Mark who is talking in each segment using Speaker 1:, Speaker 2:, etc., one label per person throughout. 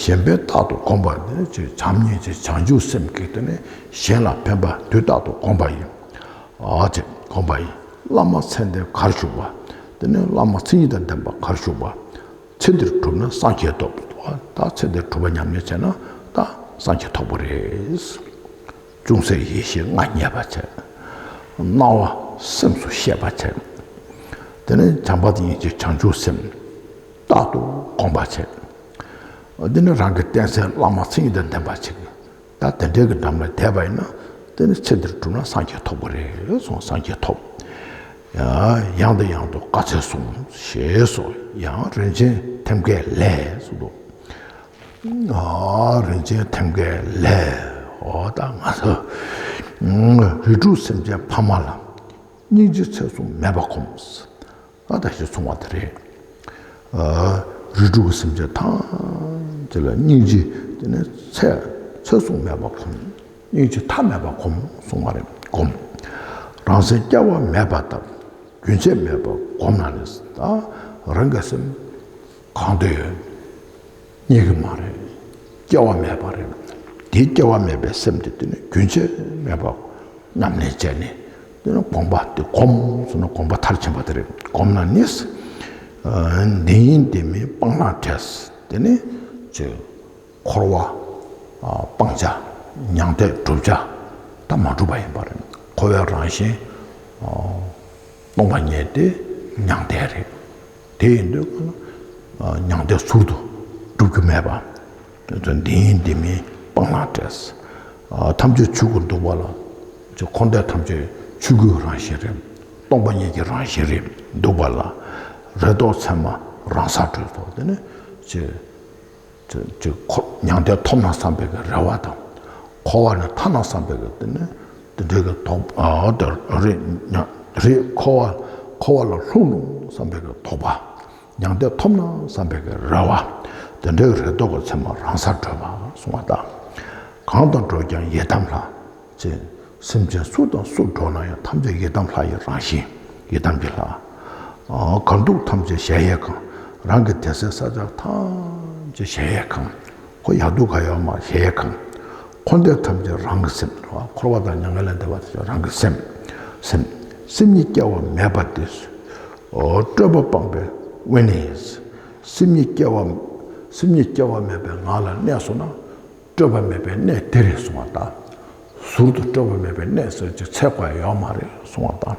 Speaker 1: གཞན་ཕན་རྟག་ཏུ་བསྒོམ་པ་ནི་སྤྱིར་བྱམས་སྙིང་རྗེ་བྱང་ཆུབ་སེམས་བསྐྱེད་བསྟེན་ནས་གཞན་ལ་ཕན་པ་དུས་རྟག་ཏུ་བསྒོམ་པ་ཡིན། དེ་བསྒོམ་པ་ཡིན། བླ་མ་ཚེ་འདིར་གར་བཞུགས་པ། དེ་ནས་བླ་མ་ཚེ་ཉིད་དང་ལྡན་པ་གར་བཞུགས་པ། ཚེ་འདིར་གྲུབ་ན་སངས་རྒྱས་ཐོབ། ད་ཚེ་འདིར་གྲུབ་པ་ཉམས་ལེན་བྱས་ན་ད་སངས་རྒྱས་ཐོབ་པོ་རེད། ཅུང་ཟད་ཡེ་ཤེས་ལྔ་རྙེད་པར་བྱས། སྣང་བ་སེམས་སུ་ཤེས་པར་བྱས། དེ་ནས་བྱམས་པ་དང་སྙིང་རྗེ་བྱང་ཆུབ་སེམས། རྟག་ཏུ་གོམས་པར་བྱེད། འདི་ནི་རང་གི་རྟེན་གསལ་བླ་མ་མཚན་ཉིད་དང་ལྡན་པར་བྱེད། ད་དེ་འདྲའི་གི་འགྲམ་ལ་དད་པ་ཡིན་ན་དེ་ནི་ཚེ་འདིར་བསྒྲུབས་ན་སངས་རྒྱས་ཐོབ་པོ་རེད་གསུངས་སངས་རྒྱས་ཐོབ། ཡང་དང་ཡང་དུ་བཀའ་སྩལ་གསུང་ཞེས་སོགས་ཡང་རིན་ཆེན་ཐེམ་སྐས་ལས་གསུངས་འདུག། རིན་ཆེན་ཐེམ་སྐས་ལས། ཨོ་ད་ང་ཚོ་རིགས་དྲུག་སེམས་ཅན་ཕ་མ་ལ། སྙིང་རྗེ་ཚད་གསུམ་མེད་པར་གོམས། ཨ་ཐ་ཞེས་འཚོང་བ་དེ་རེད། རིགས་དྲུག་གི་སེམས་ཅན་ཐམས་ཅད་ལ་སྙིང་རྗེ་དེ་ནི་ཚད་ཚོད་བཟུང་མེད་པར་གོམས། སྙིང་རྗེ་མཐའ་མེད་པར་གོམས་གསུངས་པ་རེད་གོམས། རང་སེམས་སྐྱ་བ་མེད་པར་དང་རྒྱུན་ཆད་མེད་པར་གོམས་ན་ནི་རང་གི་སེམས་གང་དུ་ཡོད་རྙེད་གི་མ་རེད། སྐྱེ་བ་མེད་པ་རེད། དེའི་སྐྱེ་བ་མེད་པའི་སེམས་དེ་དེ་ནི་རྒྱུན་ཆད་མེད་པར་ཉམས་ལེན་བྱས་ནས་དེ་ནི་བསྒོམ་པ་དེ་གོམས་སོང་ན་བསྒོམ་པ་མཐར་ཕྱིན་པ་དེ་རེད་བསྒོམས་ན་ནི། འདི་ཡིན་འདི་མིན་སྤང་བླང་བྲལ། དེ་ནི་ཆོས་འཁོར་བ་སྤང་བྱ་མྱང་འདས་བསྒྲུབ་བྱ་དང་མ་གྲུབ་པ་ཡིན་པ་རེད། འཁོར་བའི་རང་བཞིན་སྟོང་པ་ཉིད་དེ་མྱང་འདས་རེད། དེ་ཡིན་དུས་ཀྱང་མྱང་འདས་ཟུར་དུ་བསྒྲུབ་རྒྱུ་མེད་པ། དོན་དུ་འདི་ཡིན་འདི་མིན་སྤང་བླང་བྲལ། ཐམས་ཅད་ཆོས་སྐུར་འདུག་པ་ལ། འཁོར་འདས་ཐམས་ཅད་ཆོས་སྐུའི་རང་བཞིན་རེད། སྟོང་པ་ཉིད་ཀྱི་རང་བཞིན་རེད་འདུག་པ་ལ། རེ་དོགས་མཚན་མ་རང་སར་གྲོལ་ཐོབ་དེ་ནི། མྱང་འདས་ཐོབ་ན་བསམ་པའི་གྱི་རེ་བ་དང། འཁོར་བ་ནི་ཐར་ན་བསམ་པའི་གྱི་དེ་ནི། འདི་འདྲའི་གྱི་དོགས་པ་རེད། འཁོར་བ་ལ་ལྷུང་རུང་བསམ་པའི་གྱི་དོགས་པ། མྱང་འདས་ཐོབ་ན་བསམ་པའི་རེ་བ། དེ་འདྲའི་རེ་དོགས་ཀྱི་མཚན་མ་རང་སར་གྲོལ་བར་གསུང་བ་དང། གང་དང་འགྲོགས་ཀྱང་ཡི་དམ་ལྷ། ཅེས་སེམས་ཅན་སུ་དང་སུར་འགྲོགས་ན་ཡང་ཐམས་ཅད་ཡི་དམ་ལྷ་ཡི་རང་བཞིན། ཡི་དམ་གྱི་ལྷ། གང་འདུག་ཐམས་ཅད་གཞལ་ཡས་ཁང། རང་གི་དད་སེལ་ས་བཅག་ཐམས་ཅད་གཞལ་ཡས་ཁང། ཁོ་ཡག་སྡུག་ག་ཡོད་མ་ཤེས་གང། འཁོར་འདས་ཐམས་ཅད་རང་གི་སེམས། འཁོར་བ་དང་མྱ་ངན་ལས་འདས་པ་དེ་རང་གི་སེམས། སེམས་ཉིད་སྐྱེ་བ་མེད་པ་དེ། སྤྲོས་པ་སྤངས་པའི་དབེན་ནི། སེམས་ཉིད་སྐྱེ་བ་མེད་པའི་ངང་ལ་གནས་སོང་ན། སྤྲོས་པ་མེད་པའི་གནས་དེ་རེད་གསུང་བ་དང། ཟུར་དུ་སྤྲོས་པ་མེད་པའི་གནས་ཟེར་གྱི་ཚད་ག་ཡོད་མ་རེད་གསུང་བ་དང།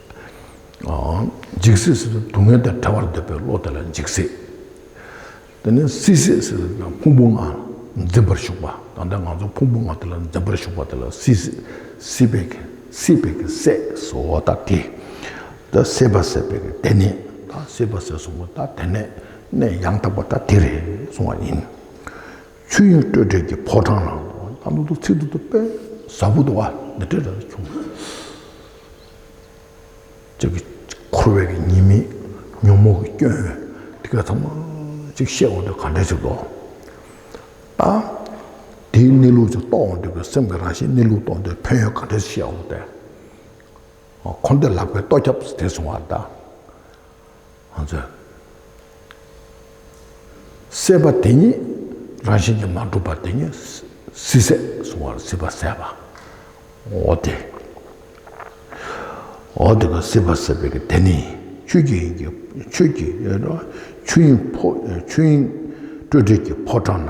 Speaker 1: འཇིགས་སེ་ཟེར་དུག་ལྔའི་དང་བྲལ་བར་འདོད་པའི་བློ་དེ་ལ་འཇིགས་སེ། དེ་ནས་སྲིད་སེ་ཟེར་དུག་ལྔ་ཕུང་པོ་ལྔ་འཛིན་པར་ཞུགས་པ་ད་ལྟ་ང་ཚོ་ཕུང་པོ་ལྔ་དེ་ལ་འཛིན་པར་ཞུགས་པ་དེ་ལ་སྲིད་སེ། སྲིད་པའི་གེགས་སྲིད་པའི་གེགས་སྲེད་སོ་ད་དེ། ད་སྲིད་པ་སྲེད་པའི་གེགས་དེ་ནས་ད་སྲིད་པ་སྲེད་སོང་བ་ད་དེ་ནས་ནས་ཡང་དག་པ་ད་དེ་རེད་གསུང་བ་ཡིན། ཆོས་དབྱིངས་སྤྲོས་བྲལ་གྱི་ཕོ་བྲང་ན། ད་ནུ་དུག་ཚིག་དུག་དུག་པའི་གཟར་བུ་དུ་བ་འདི་འདྲ་རེ་བྱུང། ཅིག། འཁོར་བའི་གཉིས་མེད་ཉོན་མོངས་ཀྱི་སྐྱོན། འདི་ཀ་ཐམས་ཅད་བཤད་འོང་དུས་ག་འདྲ་ཞིག་ལོག། ཨ། དེའི་གནས་ལུགས་ཅིག་རྟོགས་འོང་དུས་ཀྱི་སེམས་ཀྱི་རང་བཞིན་གནས་ལུགས་རྟོགས་འདོད་ཕན་ཡོན་ག་འདྲ་ཞིག་བཤད་འོང་དུས། འཁོར་འདས་ལག་པའི་ལྟོ་རྒྱབ་ཟེར་སོང་བ་ལྟར། ང་ཚོས་བསད་པ་དེ་ཉིད་རང་བཞིན་གྱིས་མ་གྲུབ་པ་དེ་ཉིད་སྲིད་ཟད་གཟུང་བར་སྲིད་པ་ཟད་པའོ། དེ་འོ་དེ་ཀ་སྲིད་པ་ཟད་པའི་ཀ་དེ་ནི་ཆོས་ཀྱི་དབྱིངས་ཀྱི་ཆོས་ཀྱི་ཆོས་དབྱིངས་སྤྲོས་བྲལ་གྱི་ཕོ་བྲང་ན།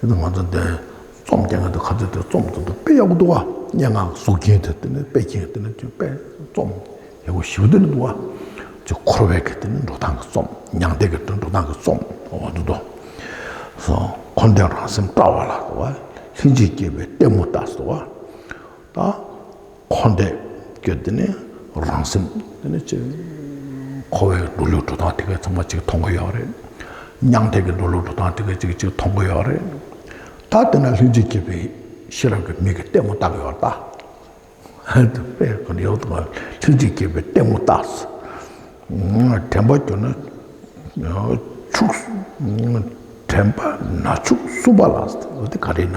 Speaker 1: ཡོད་དུ་ང་ཚོ་འདི་རྩོམ་སྐྱེལ་མཁན་དུ་ཁ་ཚོད་དེ་རྩོམ་རྩོམ་དུ་དཔེ་ཡག་པོ་འདུག་བ་སྙན་ངག་གཟུགས་རྒྱན་དེ་དེ་ནི་དཔེ་རྒྱན་དེ་ནི་དཔེ་རྩོམ་ཡག་པོ་ཞིག་འདུག་བ་ཅུ་འཁོར་བའི་གི་དེ་ནི་འགྲོ་སྟངས་གི་རྩོམ་མྱང་འདས་ཀྱི་འགྲོ་སྟངས་ཀྱི་རྩོམ་བ་འདུག་དོ་སོ་འཁོར་འདས་རང་སེམས་བཀྲ་བ་ལ་དོ་བ་ལྷན་ཅིག་སྐྱེས་པའི་ལྟད་མོ་ལྟ་སོ་བ་ད། འཁོར་འདས་ཀྱི་དེ་ནི་རང་སེམས་དེ་ནི་ཅི། འཁོར་བའི་འགྲོ་ལུགས་འགྲོ་སྟངས་དེ་གའི་ཚང་མ་གཅིག་མཐོང་གི་ཡོད་རེད། མྱང་འདས་ཀྱི་འགྲོ་ལུགས་འགྲོ་སྟངས་དེ་གའི་གཅིག་གཅིག་མཐོང་གི་ཡོད་རེད། ད་དེ་ན་ལྷན་ཅིག་སྐྱེས་པའི་ཤེས་རབ་ཀྱི་མིག་གིས་ལྟད་མོ་བལྟ་གི་ཡོད་ལ། ལྷན་ཅིག་སྐྱེས་པའི་ལྟད་མོ་བལྟ། དྲན་པ་གྱུར་ན་ཕྱུགས། དྲན་པ་ན་ཕྱུགས་གསུམ་པ་ལ། འདི་ག་རེ་ན།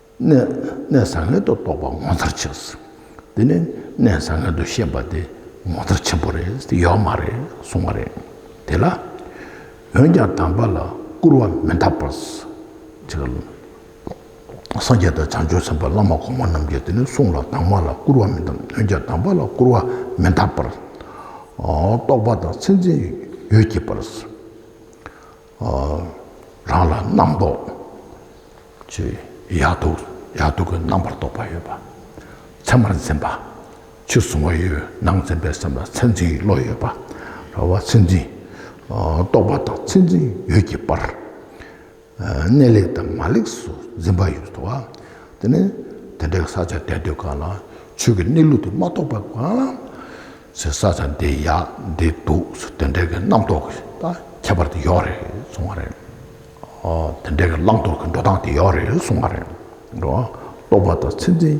Speaker 1: གནས་བཟང་ངན་དུ་རྟོགས་པ་ངོ་མཚར་ཆེ་ཟེར། དེ་ནི་གནས་བཟང་ངན་དུ་ཤེས་པ་དེ་ངོ་མཚར་ཆེན་པོ་རེད་དེ་ཡོད་མ་རེད་གསུངས་པ་རེད། དེ་ལ། འོན་ཀྱང་དམ་པ་ལ་སྐུར་བ་མི་འདག་པར། སངས་རྒྱས་དང་བྱང་ཆུབ་སེམས་དཔའ་བླ་མ་གོང་མ་རྣམས་ཀྱིས་དེ་ནི་གསུངས་ལ་དྭངས་མ་ལ་སྐུར་བ་མི་འདམ་འོན་ཀྱང་དམ་པ་ལ་སྐུར་བ་མི་འདག་པར། རྟོགས་པ་དང་མཚན་འཛིན་ཡོད་ཀྱི་པར། རང་ལ་རྣམ་རྟོག་ཅེས་ཡག་སྡུག་ཡག་སྡུག་གི་རྣམ་པར་རྟོག་པ་ཡོད་པ། མཚན་མར་འཛིན་པ། ཕྱི་གཟུང་བ་ཡོད་ནང་འཛིན་པའི་སེམས་ལ་མཚན་འཛིན་བློ་ཡོད་པ། ར་བ་མཚན་འཛིན། རྟོག་པ་དང་མཚན་འཛིན་ཡོད་ཀྱི་བར། གནས་ལེགས་དང་མ་ལེགས་སུ་འཛིན་པ་ཡོད་དོ། དེ་ནི་དེ་འདྲའི་ས་ཆ་བསྟན་དུས་གང་ལ་ཆོས་ཀྱི་གནས་ལུགས་དེ་མ་རྟོགས་པའི་གང་ལ། ཟེར་ས་ཙམ་དེ་ཡག་འདི་འདུག་ཟེར་དེ་འདྲའི་གི་རྣམ་རྟོག་གི་ད་ཁྱད་པར་དེ་ཡོག་རེད་གསུང་བ་རེད། དེ་འདྲའི་གི་བླང་དོར་གི་འགྲོ་སྟངས་དེ་ཡོག་རེད་གསུང་བ་རེད། རྟོག་པ་དང་ཚད་འཛིན་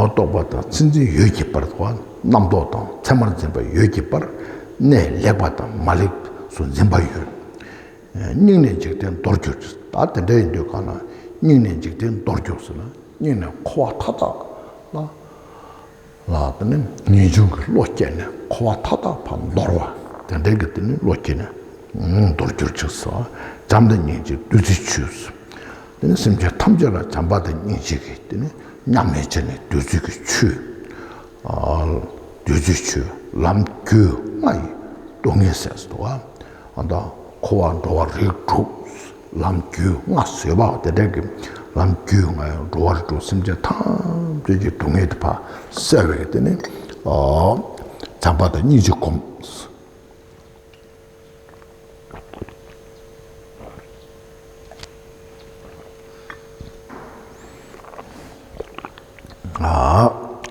Speaker 1: རྟོག་པ་དང་ཚད་འཛིན་ཡོད་ཀྱི་བར་དུ་རྣམ་རྟོག་དང་ཚད་མར་འཛིན་པ་ཡོད་ཀྱི་བར་གནས་ལེགས་པ་དང་མ་ལེགས་སུ་འཛིན་པ་ཡོད། སྙིང་ནས་འཇིག་རྟེན་མདོར་གྱུར་ཅིག་ད་དེ་འདྲ་ཡིན་དུས་གང་ན་སྙིང་ནས་འཇིག་རྟེན་མདོར་གྱུར་ཟེར་ན་སྙིང་ནས་འཁོར་བ་མཐའ་དག་ལ། ལ་དེ་ནི་ངེས་འབྱུང་གི་བློ་སྐྱེས་ནས་འཁོར་བ་མཐའ་དག་བར་འདོར་བ། དེ་འདྲའི་གི་དེ་ནི་བློ་སྐྱེས་ནས་འདོར་འགྱུར་ཅིག་སོ། བྱམས་དང་སྙིང་རྗེའི་བདུད་རྩིའི་ཆུས། དེ་ནི་སེམས་ཅན་ཐམས་ཅད་ལ་བྱམས་པ་དང་སྙིང་རྗེ་གི་དེ་ནི་མཉམ་མེད་ཅན་ནི་བདུད་རྩི་གི་ཆུ། བདུད་རྩིའི་ཆུ་ལམ་རྒྱུད་ལྔ་ཡི་སྡུག་བསྔལ་ཟས་སུ་འདུ་བ། འཁོར་བ་འགྲོ་བ་རིགས་དྲུག། ལམ་རྒྱུས་མངའ་བཟོད་པའོ་དེ་དག་གི་ལམ་རྒྱུས་མངའ་ཡང་འགྲོ་བ་རིགས་དྲུག་སེམས་ཅན་ཐམས་ཅད་ཀྱི་སྡུག་བསྔལ་དུ་བག་བསལ་བས་དེ་ནི་ཚངས་པ་དང་སྙིང་རྗེ་སྒོམས།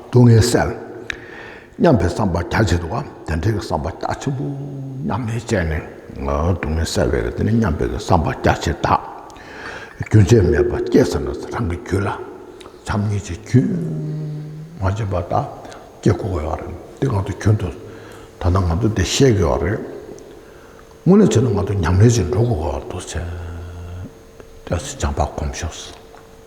Speaker 1: སྡུག་བསྔལ་བསལ། སྙམ་པའི་བསམ་པ་རྒྱ་ཆེ་དུ་བ་དེ་འདྲའི་བསམ་པ་རྒྱ་ཆེན་པོ་མཉམ་མེད་ཅན་ནི་སྡུག་བསྔལ་བསལ་བའི་རིགས་དེ་ནི་མཉམ་པའི་བསམ་པ་རྒྱ་ཆེ་དག་རྒྱུན་ཆད་མེད་པར་སྐྱེས་སམ་ན་རང་གི་རྒྱུད་ལ་བྱམས་སྙིང་རྗེ་རྒྱུན་མ་ཆད་པ་དག་སྐྱེ་དགོས་པའི་བར་རེད། འདི་གང་དུ་གྱུར་འདུག་ད་ལྟ་ང་ཚོ་འདི་ཤེས་དགོས་བ་རེད། དངོས་གནས་བྱས་ན་ང་ཚོ་ཉམས་ལེན་བྱེད་འགྲོ་དགོས་བ་འདུག་ཟེར། སྐྱབས་སུ་སྦྱངས་པ་སྒོམ་ཤོག།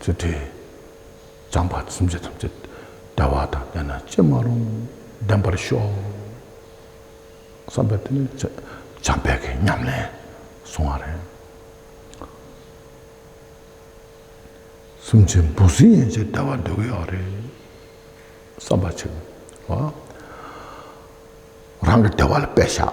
Speaker 1: ཚུལ་ཁྲིམས་གཙང་བར་སེམས་ཅན་ཐམས་ཅད་བདེ་བ་དང་བདེ་སྣང་ཅི་མ་རུང་ལྡན་པར་ཤོག་བསམ་པའི་དོན་ནི་བྱམས་པའི་གི་ཉམས་ལེན་སོང་བ་རེད། སེམས་ཅན་འབུ་སྲིན་ཡན་ཆད་བདེ་བ་འདོད་གི་ཡོད་རེད་བསམ་པ་ཆེ་བ། རང་གི་བདེ་བ་ལ་དཔེ་བཞག།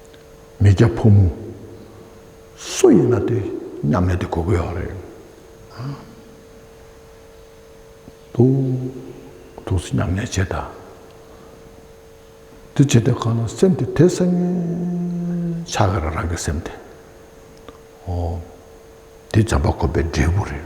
Speaker 1: མི་སྐྱ་ཕོ་མོ་སུ་ཡིན་ན་དེ་མཉམ་ལས་དེ་གོ་དགོས་ཡག་རེད་འདུག་ཐུགས་བསུ་མཉམ་ལས་བྱེད་དང་དེ་བྱེད་དེ་གང་ལ་སེམས་དེ་དེ་སེམས་ཆགས་གི་རེད་རང་གི་སེམས་དེ་ཨོ་དེ་བྱམས་པ་དགོན་པའི་འབྲས་བུ་རེད་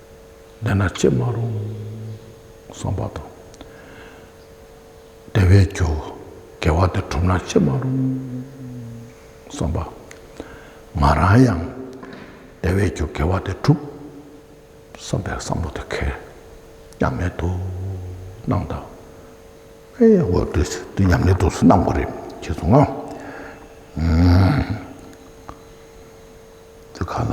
Speaker 1: འདི་ན་ཅི་མ་རུང་བསམ་པ་དང། བདེ་བའི་རྒྱུ་དགེ་བ་འདི་གྲུབ་ན་ཅི་མ་རུང་བསམ་པ། ང་རང་ཡང་བདེ་བའི་རྒྱུ་དགེ་བ་འདི་གྲུབ་བསམ་པའི་བསམ་བློ་དེ་ཁེར་ཉམས་ལེན་དུ་སྣང་དང། ཨེ་ཡ་འོ་དེ་འདི་ཉམས་ལེན་དུ་སྣང་གི་རེད་ཅེས་སོང་ང། འདི་ག་ལ།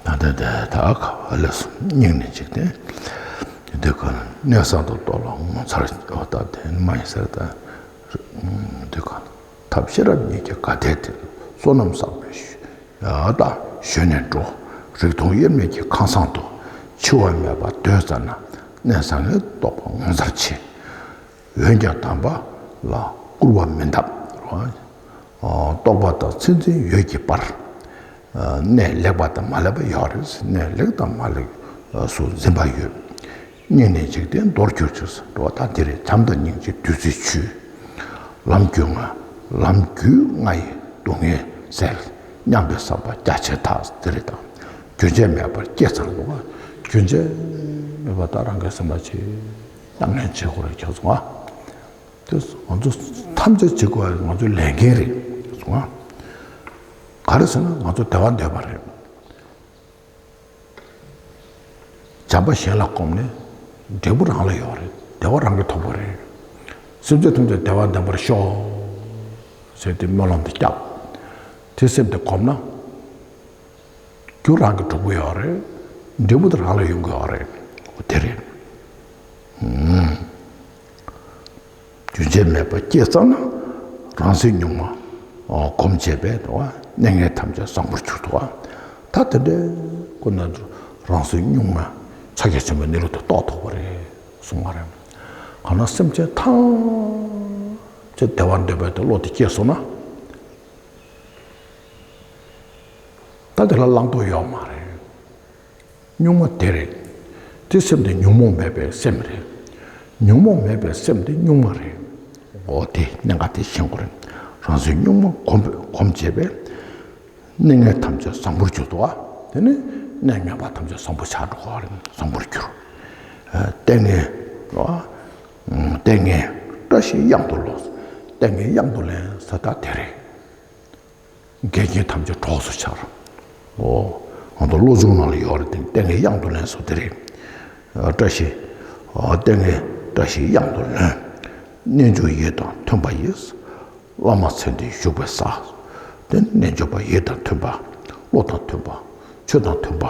Speaker 1: ད་ད་ད་ད་ག་བ་ལས་སོ་སྙིང་ནས་འཇིག་རྟེན་འདི་ག་ལ་གནས་གསང་དུ་གཏོགས་ལ་ངོ་མཚར་བ་ལྟ་བདེན་མ་ཡིན་ཟེར་ད་འདི་ག་ལ། ཐབས་ཤེས་རབ་གཉིས་ཀྱི་དགའ་དད་དེ་ཚོ་བསོད་ནམས་བསགས་པའི་ཞོན་ནས་འགྲོ། རིག་སྟོང་དབྱེར་མེད་ཀྱི་ཁང་བཟང་དུ། འཆི་བ་མེད་པར་སྡོད་ཙམ་ན་གནས་བཟང་ངན་རྟོགས་པ་ངོ་མཚར་ཆེ། འོན་ཀྱང་དམ་པ་ལ་སྐུར་བ་མི་འདབ། རྟོགས་པ་དང་ཚིག་འཛིན་ཡོད་ཀྱི་བར། གནས་ལེགས་པ་དང་མ་ལེགས་པ་ཡོད་རེད། གནས་ལེགས་དང་མ་ལེགས་སུ་འཛིན་པ་ཡོད། བསྙེན་གནས་འཇིག་རྟེན་མདོར་གྱུར་ཅུང་ཟད་འགྲོ་བ་དག་འདིར་བྱམས་དང་སྙིང་རྗེའི་བདུད་རྩིའི་ཆུས། ལམ་བརྒྱུད་ལྔ་ལམ་བརྒྱུད་ལྔ་ཡི་སྡུག་བསྔལ་བསལ། སྙམ་པའི་བསམ་པ་རྒྱ་ཆེར་དག་འདིར་བཏང། རྒྱུན་ཆད་མེད་པར་བསྐྱེད་ཚང་བསླུ་བ། རྒྱུན་ཆད་མེད་པར་དག་རང་གི་སེམས་ལ་བྱིན། ཉམས་ལེན་བྱེད་དགོས་རིགས་ཁྱོད་གཟུང་བ། དེ་ང་ཚོ་ཐམས་ཅད་བྱེད་དགོས་རིགས་ང་ཚོའི་ལས་འགན་རེད་གཟུང་བ། ག་རེ་ཟེར་ན་ང་ཚོ་བདེ་བ་འདོད་པ་རེད། བྱམས་པ་གཞན་ལ་བསྒོམས་ནས་འབྲས་བུ་རང་ལ་ཡོང་བ་རེད། བདེ་བ་རང་གིས་ཐོབ་པ་རེད། སེམས་ཅན་ཐམས་ཅད་བདེ་བ་ལྡན་པར་ཤོག། ཟེར་ཏེ་སྨོན་ལམ་དེ་བསྐྱབས། དེ་སེམས་དེ་བསྒོམས་ན། རྒྱུ་རང་གིས་འགྲུབ་གི་ཡོད་རེད། འབྲས་བུ་དེ་རང་ལ་ཡོང་གི་ཡོད་རེད། དེ་རེད། རྒྱུན་ཆད་མེད་པར་སྐྱེས་ཙམ་ན་རང་སེམས་གཉུག་མ་གོམས་བྱས་པས་གནས་ངན་ཐམས་ཅད་བཟང་པོར་གྱུར་ཏོ། ད་དེ་འདྲའི་སྐུ་ན་རང་སེམས་གཉུག་མ་ཕྱག་རྒྱ་ཆེན་པོའི་གནས་ལུགས་དུ་རྟོགས་ཐུབ་པ་རེད་གསུངས་པ་རེད། གང་ན་སེམས་ཅན་ཐམས་ཅད་བདེ་བར་འདོད་པའི་བློ་དེ་སྐྱེས་སོང་ན། ད་དེ་ལ་བླང་དོར་ཡོད་མ་རེད། གཉུག་མ་དེ་རེད། དེ་སེམས་དེ་ཉོན་མོངས་མེད་པའི་སེམས་རེད། ཉོན་མོངས་མེད་པའི་སེམས་དེ་གཉུག་མ་རེད། འོ་དེ་གནད་འགག་དེ་ཤེས་དགོས་རེད། རང་སེམས་གཉུག་མ་གོམས་པས་གོམས་བྱས་པས། གནས་ངན་ཐམས་ཅད་བཟང་པོར་གྱུར་ཏོ། དེ་ནས་གནས་ངན་པ་ཐམས་ཅད་བཟང་པོ་ཆགས་འགྲོ་གོ་རེད་བཟང་པོར་གྱུར། ལྟས་ངན། ལྟས་ངན། བཀྲ་ཤིས་གཡང་དུ་ལོག། ལྟས་ངན་གཡང་དུ་ལེན་ས་དག་དེ་རེད། འགལ་རྐྱེན་ཐམས་ཅད་གྲོགས་སུ་འཆར། ཨོ། ང་ཚོ་བློ་སྦྱོང་ནང་ལ་ཡོད་རེད་དེ་ནི་ལྟས་ངན་གཡང་དུ་ལེན་སོགས་དེ་རེད། བཀྲ་ཤིས། ལྟས་ངན་བཀྲ་ཤིས་གཡང་དུ་ལོན། རྣལ་འབྱོར་ཡིད་དང་མཐུན་པ་ཡི། བླ་མ་མཚན་དེ་བཞུགས་པའི་ས། དེ་ནི་རྣལ་འབྱོར་པ་ཡིད་དང་མཐུན་པ། བློ་དང་མཐུན་པ། ཆོས་དང་མཐུན་པ།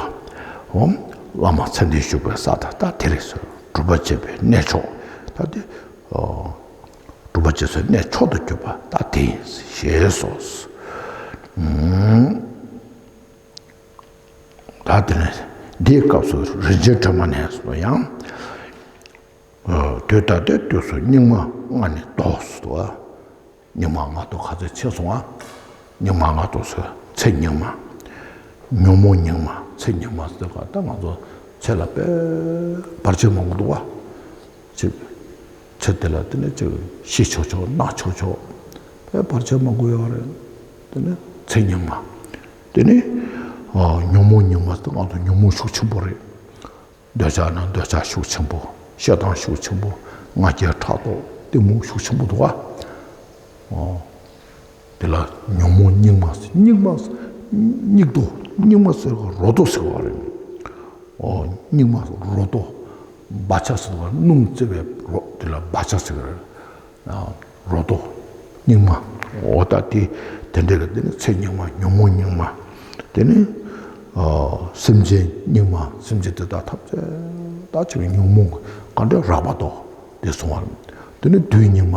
Speaker 1: ཨོ། བླ་མ་མཚན་དེ་བཞུགས་པའི་ས་ད་ལྟ་དེ་རེད། སྒྲུབ་པ་བྱེད་པའི་གནས་མཆོག་ད་དེ། སྒྲུབ་པ་རྗེས་སུ་གནས་མཆོག་ཏུ་གྱུར་པ་ལྟ་དེ་ཡིན་ཞེས་སོགས། ད་དེ་ནས་འདིའི་སྐབས་སུ་རིན་ཆེན་སྒྲོན་མ་ནས་སུ་ཡང། དུས་ད་ལྟའི་དུས་སུ་སྙིགས་མ་ལྔ་ནི་བཟློག་སོ། སྙིགས་མ་ལྔ་བཟློག་ག་ཚོད་ཆེ་སོང་ང། སྙིགས་མ་ལྔ་བཟློག་ཚེ་ཚེ་སྙིགས་མ། ཉོན་མོངས་སྙིགས་མ་ཚེ་སྙིགས་མ་བཟློག་ག་ད་ང་ཚོ་ཚེ་ལ་དཔལ་འབར་ཆེན་མོ་མི་འདུག་ག། ཚེ་འདི་ལ་དེ་ནས་ཅི་ཤི་ཆོག་ཆོག་ན་ཆོག་ཆོག་ཕལ་བར་བྱ་མ་དགོས་ཡག་རེད། དེ་ནི་ཚེ་རྙིང་མ། དེ་ནི་ཉོན་མོངས་རྙིང་མ་སྟེ་ང་ཚོ་ཉོན་མོངས་ཤུགས་ཆེན་པོ་རེད། འདོད་ཆགས་ནི་འདོད་ཆགས་ཤུགས་ཆེན་པོ་ཞེ་སྡང་ཤུགས་ཆེན་པོ་ང་རྒྱལ་ཕྲག་དོག་གཏི་མུག་ཤུགས་ཆེན་པོ་འདུག་ཨ། དེ་ལ་ཉོན་མོངས་སྙིགས་མ་སྙིགས་མ་སྙིགས་དོ་སྙིགས་མ་ཟེར་བ་རོ་དོ་ཟེར་བ་རེད། སྙིགས་མ་རོ་དོ་སྦ་ཆ་ཟེར་བ་སྣུམ་བཙེ་བའི་རོ་དེ་ལ་སྦ་ཆ་ཟེར་བ་རེད། རོ་དོ་སྙིགས་མ་འོ་ད་དེ་དེ་འདྲ་ལ་དེ་ནི་ཚེ་སྙིགས་མ་ཉོན་མོངས་སྙིགས་མ་དེ་ནི་སེམས་ཅན་སྙིགས་མ་སེམས་ཅན་དེ་དག་ཐམས་ཅད་དག་བྱེ་བའི་ཉོན་མོངས་གང་དྲན་རགས་པ་དོ་དེ་སོང་བ་རེད། དེ་ནི་བདུད་སྙིགས་མ།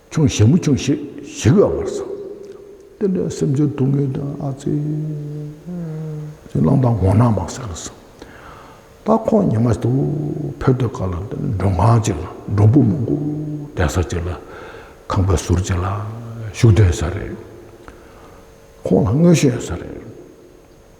Speaker 1: ཁྱུང་ཞལ་མོ་ཁྱུང་ཞེས་བཞེད་དགའ་བར་བྱ། བསྟན་དོན་སེམས་ཅན་སྡུག་བསྔལ་དོན་ཨ་ཙི། ཅེས་གླང་དང་འོ་ནག་མ་བསྲེགས་ལ་བསམ། སྟག་ཁོག་ཉི་མ་དུ་བྷེར་དུ་བཀག་ལ་མགྲོན་ཁང་བཅས་ལ་མགྲོན་པོ་མང་པོ་གདན་ས་བཅས་ལ་ཁང་པའི་ཟུར་བཅས་ལ་བཞུགས་གདན་ས་རེད། ཁོང་ལ་དངོས་གཞས་ས་རེད།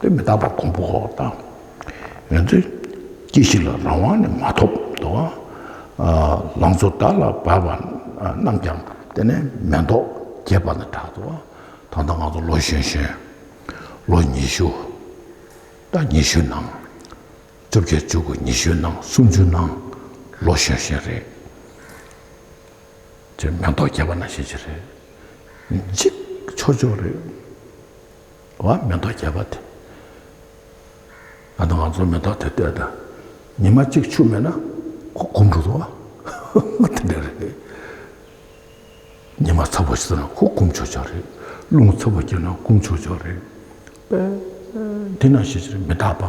Speaker 1: དེ་མི་རྟག་པ་གོང་འཕོ་ཁོག་དང། ང་ཚོས་ཅི་ཞིག་ལ་རང་དབང་ནི་མ་ཐོབ་འདུག་ཨ། ལང་ཚོ་བདག་ལ་བབས་པ་རྣམས་ཀྱང་དེ་ནས་མེ་ཏོག་རྒྱས་པ་ནི་དྲག་འདུག་ད་ལྟ་ང་ཚོ་ལོ་གཞོན་གཞོན། ལོ་ཉི་ཤུ། ཟླ་ཉི་ཤུ་ནང། བཅོ་བརྒྱད་བཅུ་དགུ་ཉི་ཤུ་ནང་སུམ་ཅུ་ནང་ལོ་གཞོན་གཞོན་རེད། ཅེས་མེ་ཏོག་རྒྱས་པ་ན་ཞེས་བྱ་རེ། གཅིག། ཆོས་མཆོག་རེ། བ་མེ་ཏོག་རྒྱས་པ་དེ། ང་དང་ང་ཚོ་མེ་ཏོག་དེ་བལྟས་དང། ཉི་མ་གཅིག་ཆུ་མེད་ན། ཁོ་གུམ་འགྲོ་འདུག་ཨ། དེ་འདྲ་རེ། ཉི་མ་ཚ་བོ་ཞིག་ཟིན་ན་ཁོ་གུམ་ཆོས་མཆོག་རེ། རླུང་ཚ་བོ་རྒྱས་ན་གུམ་ཆོས་མཆོག་རེ། དེ་ན་ཞེས་བྱ་རེ་མི་རྟག་པ།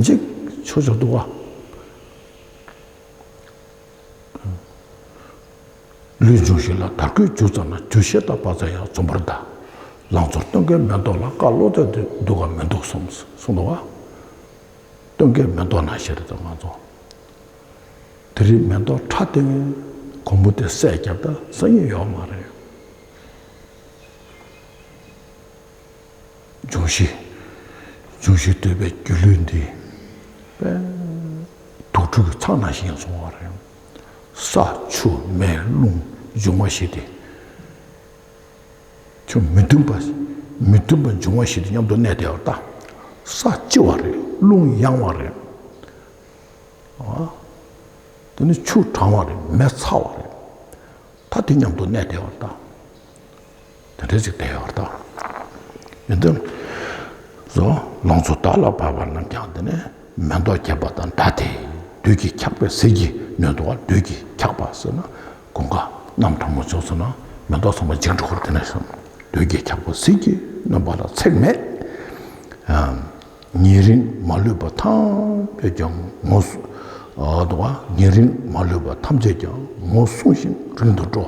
Speaker 1: གཅིག། ཆོས་མཆོག་འདུག་ཨ། ལུས་སྦྱོང་ཞིག་ལ་དར་གོས་བྱུགས་ཙམ་ན་རྒྱུ་ཤེས་དང་བག་ཚ་ཡང་འཛོམས་པར་གདའ། ལང་ཚོར་སྟོན་ཀའི་མེ་ཏོག་ལ་བཀའ་བློ་རྩལ་དེ་འདུག་གམ་མི་འདུག་གསུངས་འདུག་བ། སྟོན་ཀའི་མེ་ཏོག་ན་ཤེས་རེད་ཙམ་མ་འཛོམས། དེ་རིང་མེ་ཏོག་ཕྲ་སྟེང་གོང་བུ་དེ་སད་རྒྱབ་ད་སང་ཉིན་ཡོང་མ་རེད། འབྱུང་བཞི། འབྱུང་བཞི་ལྟོས་པའི་སྒྱུ་ལུས་འདི། དུག་ཕྲུག་གི་ཚང་ནང་བཞིན་བཟུང་བ་རེད། ས་ཆུ་མེ་རླུང་འབྱུང་བ་བཞི་སྟེ། ཁྱོད་མི་མཐུན་པ་མི་མཐུན་པ་འབྱུང་བ་བཞི་སྟེ་མཉམ་དུ་གནས་བདེ་བར་བལྟ། ས་ལྕི་བ་རེད་རླུང་ཡང་བ་རེད། འདི་ནི་ཆུ་གྲང་བ་རེད་མེ་ཚ་བ་རེད། ད་དེ་མཉམ་དུ་གནས་བདེ་བར་བལྟ། དེ་འདྲའི་ཚིག་བསྟན་ཡོད་དོ། ཡོན་ཏན། བཟོ། ལང་ཚོ་དར་ལ་བབས་པ་རྣམས་ཀྱང་འདི་ནི་མེ་ཏོག་རྒྱས་པ་དང་འདྲ་སྟེ་བདུད་ཀྱིས་འཁྱགས་པའི་ཟིལ་གྱིས་ནོན་ཏོ་བ་བདུད་ཀྱིས་འཁྱགས་པ་ཟེར་ན་དགོངས་ཀ་རྣམས་དྲང་མོ་རྫོགས་སོང་ན་མེ་ཏོག་ཚང་མ་འཇིག་འགྲོ་གི་རེད་དེ་ནས་བཟུང་བདུད་ཀྱིས་འཁྱགས་པའི་ཟིལ་གྱིས་ནོན་པ་ལ་ཚེགས་མེད་ཨང། ཉེ་རིང་མ་ལུས་པ་ཐམས་ཅད་ཀྱང་ངོ། ཉེ་རིང་མ་ལུས་པ་ཐམས་ཅད་ཀྱང་ངོ་བསྲུང་ཞིང་རིང་དུ་འགྲོ།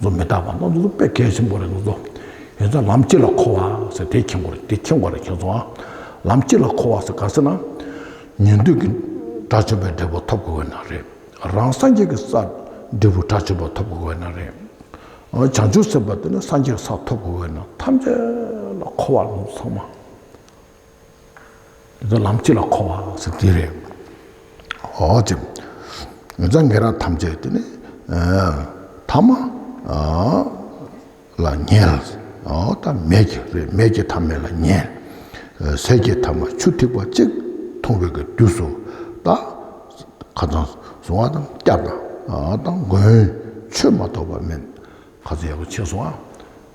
Speaker 1: ཚོ་མི་རྟག་པ་སྣ་ཚོགས་པས་གལ་ཆེན་པོ་རེད་ལོ་ཚོ། ཡོད་ཚད་ལམ་གཅིག་ལ་འཁོར་བ་ཟེར་དེ་ཁྱེད་འཁོར་དེ་ཁྱེད་འཁོར་རེད་ཁྱེད་ཚོ་ཨ། ལམ་གཅིག་ལ་འཁོར་བ་ཟེར་ག་ཟེར་ན། ཉན་ཐོས་ཀྱི་དགྲ་བཅོམ་པའི་འབྲས་བུ་ཐོབ་དགོས་བས་ན་རེད། རང་སངས་རྒྱས་ཀྱི་ས། འབྲས་བུ་དགྲ་བཅོམ་པ་ཐོབ་དགོས་བས་ན་རེད། བྱང་ཆུབ་སེམས་དཔའ་དེ་ནི་སངས་རྒྱས་ཀྱི་ས་ཐོབ་དགོས་བས་ན་ཐམས་ཅད་ལ་འཁོར་བ་ལོ་ཚོ་ཚང་མ། ཚོ་ལམ་གཅིག་ལ་འཁོར་བ་ཟེར་དེ་རེད། ཨོ་ཅེ། ངེད་ཅག་ངེད་རང་ཐམས་ཅད་དེ་ནི་ཐ་མ་ལ་ཉལ། ཐ་མལ་གྱི་རེད་མལ་གྱི་ཐ་མལ་ལ་ཉལ། ཟས་ཀྱི་ཐ་མ་ཆུ་ཐིགས་པ་གཅིག་འཐུང་བའི་གི་དུས་སུ་ད། ཁ་ཚང་བཟུང་བ་དང་སྐྱབས་དང་མགོན་ཆོས་མ་ཐོབ་པ་མིན། ཁ་ཚོན་ཡག་པོ་ཕྱེས་སོང་ཨ།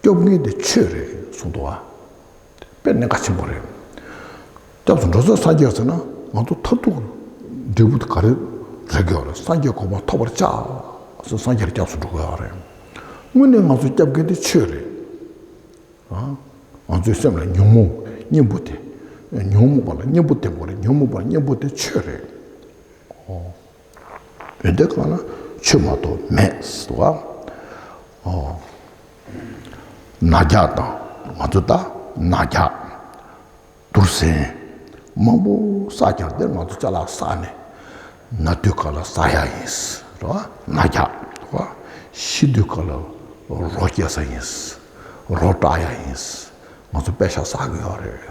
Speaker 1: སྐྱོབ་མཁན་དེ་ཁྱོད་རེད་གསུངས་འདུག་ཨ། དཔེར་ན་ག་ཆེན་པོ་རེད། སྐྱབས་སུ་འགྲོ་ཚོད་སངས་རྒྱས་ཟེར་ན་ང་ཚོ་མཐར་ཐུག་འབྲས་བུ་ག་རེ་རེག་གི་ཡོད་རེད་སངས་རྒྱས་གོ་འཕང་ཐོབ་པར་བྱ། ཟེར་སངས་རྒྱས་ལ་སྐྱབས་སུ་འགྲོ་དགོས་ཨ་རེད། དངོས་གནས་ང་ཚོ་སྐྱབས་མཁན་དེ་ཁྱོད་རེད། ཨ། ང་ཚོའི་སེམས་ལ་ཉོན་མོངས་གཉེན་པོ་དེ། ཉོན་མོངས་པ་ལ་གཉེན་པོ་དེ་མ་རེད་ཉོན་མོངས་པ་གཉེན་པོ་དེ་ཁྱོད་རེད། ཨོ། བོད་འདི་གང་ན་ཆོས་མ་གཏོགས་མེད་ཟེར་བ། ནག་རྒྱག་དང་ང་ཚོ་ལྟ་ནག་རྒྱག། དུར་གཟན། མང་པོ་བསགས་ཀྱང་འདིར་ང་ཚོ་ལྕགས་ལ་བསགས་ནས་ན་དུས་ག་ལ་བསགས་ཡག་ཡིན་ཟེར་བ། ནག་རྒྱག་ཟེར་བ། ཤི་དུས་ག་ལ་རོ་སྐྱེ་ས་ཡིན་ཟེར་བ། རོ་བཀྲག་ཡག་ཡིན་ཟེར་བ། ང་ཚོ་པད་ཤག་བསགས་དགོས་ཡག་རེད།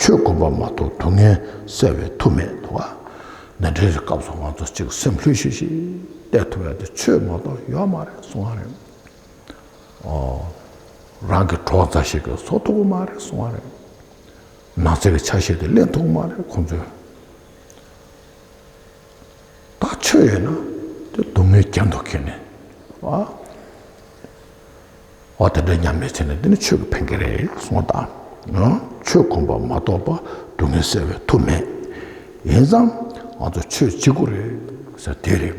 Speaker 1: ཆོས་གོམས་པ་མ་གཏོགས་སྡུག་བསྔལ་བསལ་བའི་མཐུ་མེད་དོ། ན་འདྲེ་རེ་སྐབས་སུ་ང་ཚོ་གཅིག་སེམས་ལྷོད་ཤིག་ཤིག་གཏད་ཐུབ་ཡ་དེ་ཆོས་མ་གཏོགས་ཡོད་མ་རེད་གསུང་བ་རེད། ཨོ། རང་གི་གྲོགས་མཛའ་ཞིག་གིས་བཟོ་ཐུབ་མ་རེད་གསུང་བ་རེད། ནགས་ཚལ་གྱི་ཆ་ཤས་དེ་གླན་ཐུབ་མ་རེད་ཁོང་ཚོས། ད་ཆོས་ཡོད་ན་དེ་སྡུག་བསྔལ་རྒྱ་མདོག་ཁེལ་ནས་ཨ། ཨོ་དེ་འདྲ་སྙམ་པའི་ཚེ་ན་འདི་ནི་ཆོས་ཀྱི་འཕེན་ཁེ་རེད་གསུང་ད། ཆོས་ཁོམ་པ་མ་གཏོགས་པ་སྡུག་བསྔལ་སེལ་བའི་ཐུགས་མེད། ཡིན་ཙང་ང་ཚོ་ཆོས་གཅིག་པུ་རེད་ཟེར་དེ་རེད།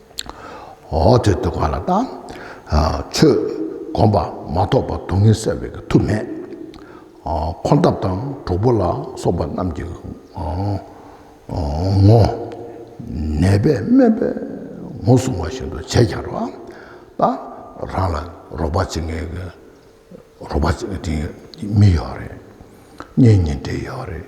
Speaker 1: འོ་དེ་ལྟ་བ་ལ་དང། ཆོས་བསྒོམ་པ་མ་གཏོགས་པར་སྡུག་བསྔལ་བསལ་བའི་ཐུགས་མེད། འཁོར་འདབ་དང་གྲོག་པོ་ལ་སོགས་པ་རྣམས་ཀྱི་ངོ། ནད་པས་སྨན་པས་ངོ་བསྲུང་བ་བཞིན་དུ་བྱས་ཀྱང་རོ། དང། རང་ལ་རོགས་པ་བྱེད་མཁན་གྱི་རོགས་པ་བྱེད་མཁན་མི་ཡོད་རེད། གཉེན་ཉེ་འབྲེལ་ཡོད་རེད།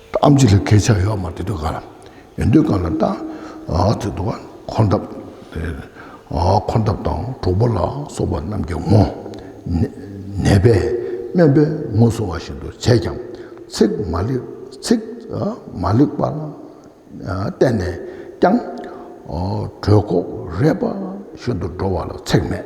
Speaker 1: ཨམ་ཅི་ལ་ཁས་ཆགས་ཡོག་མ་དེ་དུ་ག་ལ། ཡོན་ཏུ་ག་ལ་ལྟ། དེ་དུ་ག་འཁོར་འདབ། འཁོར་འདབ་དང་གྲོགས་པོ་ལ་སོགས་པ་རྣམས་ཀྱི་ངོ། ནད་པས་སྨན་པའི་ངོ་བཟུང་བ་བཞིན་དུ་བྱས་ཀྱང་ཚིག་མ་ལེགས་པར་བསྟན་ནས་ཀྱང། གྲོད་ཁོག་རས་པ་བཞིན་དུ་འགྲོ་བ་ལ་ཚེགས་མེད།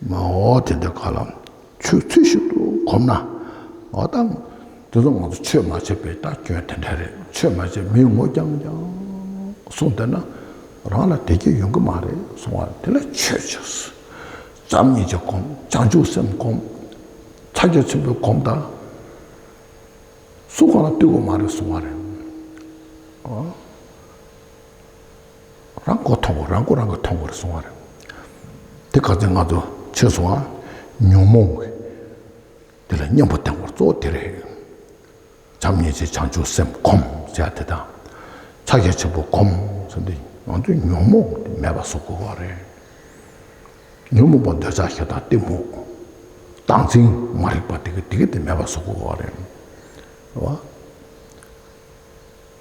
Speaker 1: མ་འོ་དེ་འདྲ་ག་ལ་ཆོས་ཚུལ་ཞིག་ཏུ་གོམས་ན་འོ་དམ། དེ་ཚོ་ང་ཚོ་ཆོས་མ་བྱས་པའི་ལྟ་སྐྱོན་དེ་འདྲ་རེད་ཆོས་མ་བྱས་མིའི་ངོ་རྐྱང་རྐྱང་གསུངས་བསྡད་ན་རང་ལ་བདེ་སྐྱིད་ཡོང་གི་མ་རེད་གསུངས་བ་དེ་ལ་ཆོས་ཆོས་བྱམས་སྙིང་རྗེ་གོམས་བྱང་ཆུབ་སེམས་གོམས་ཕྱག་རྒྱ་ཆེན་པོའི་གོམས་ད་སུ་གང་ལ་བསྟོད་གི་མ་རེད་གསུངས་བ་རེད། རང་མགོ་མཐོང་བ་རང་མགོ་རང་གིས་མཐོང་བར་སོང་བ་རེད། དེ་ག་ཚོད་ང་ཚོ་ཆོས་སོང་བ་ཉོན་མོངས་བས་དེ་ལ་སྙོམས་པར་བསྟེན་བར་གཙོ་བོ་དེ་རེད། བྱམས་སྙིང་རྗེ་བྱང་ཆུབ་སེམས་གོམས་བྱས་དེ་དང། ཕྱག་རྒྱ་ཆེན་པོ་གོམས་བྱས་འདི་ང་ཚོས་ཉོན་མོངས་དེ་མེད་པ་བཟོ་དགོས་བ་རེད། ཉོན་མོངས་པ་འདོད་ཆགས་ཞེ་སྡང་གཏི་མུག་སྡང་ཚིག་མ་རིག་པ་དེ་ག་དེ་ག་དེ་མེད་པ་བཟོ་དགོས་བ་རེད།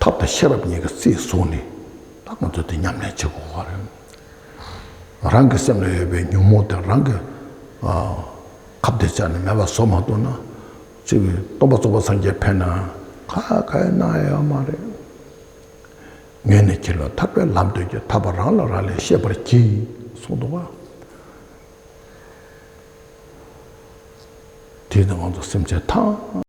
Speaker 1: ཐབས་དང་ཤེས་རབ་གཉིས་ཀྱི་རྩིས་བཟུང་ནས་ད་ང་ཚོ་འདི་ཉམས་ལེན་བྱེད་དགོས་པ་རེད། རང་གི་སེམས་ལ་ཡོད་པའི་ཉོན་མོངས་དེ་རང་གིས་ཁ་བརྡའི་ཆ་ནས་མེད་པ་བཟོ་མ་གཏོགས་ན་ཚུལ་མིན་སྟོང་པ་རྫོགས་པ་སངས་རྒྱས་ཕེབས་ནའང་ཁ་ཁ་ཡོད་སྣ་ཡོད་ཡོད་མ་རེད། ངས་ནི་ཁྱེད་ལ་ཐར་པའི་ལམ་སྟོན་གྱི་ཐར་པ་རང་ལ་རང་ལས་ཤེས་པར་གྱིས་གསུངས་འདུག་པ་དེས་ན་ང་ཚོ་སེམས་ཅན་ཐམས།